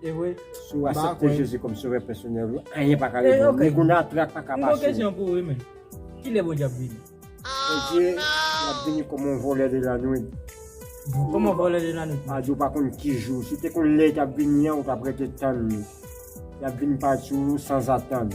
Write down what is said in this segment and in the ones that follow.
Si ou asepte Jezi kòm sovè pèsonèl ou, anyen pa ka rete ou. Ni goun nan trak pa ka pase ou. Mwen gen yon kesyon pou ou wi menn. Kilè Bondye ap vini? Bondye ap vini kòm yon vòlè de lanwit. Kòm yon vòlè de lanwit? Pa di ou pa konn ki jou. Si ou te konn lè li t ap vini an, ou t ap rete tann li. L ap vini pati ou sanzatann.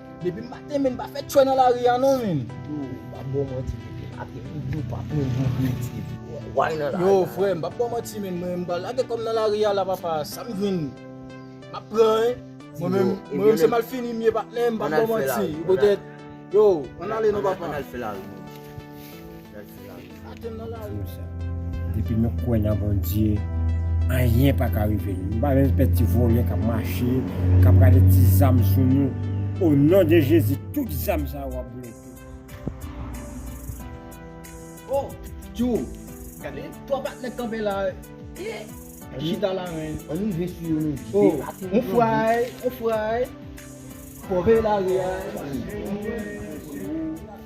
Depi maten menm pa fè tchwè nan lari a non menm. Yo pa bo manti depi maten menm yo pa pran yon bredye pou yo wany nan lari a. Yo frè m pa bo manti menm mwen menm pa lage kò m nan lari a la papa sa m jwenn map pran wi. Mwen menm mwen menm se mal fini m ye patnè m pa bo manti. Yo ann ale non papa. Ann al fè lari. Depi nou kwè nan Bondye anyen pa ka rive nou. Nou pa menm pè ti vòlè kap mache, kap gade ti zam sou nou. O non de Jezi tout zam sa yo ap bloke. Oh tjou gade 3 patnè kanpe la eeh chita la men. An nou rive sou yo nou vide yo atè. On fway on fway. Pòve lari a.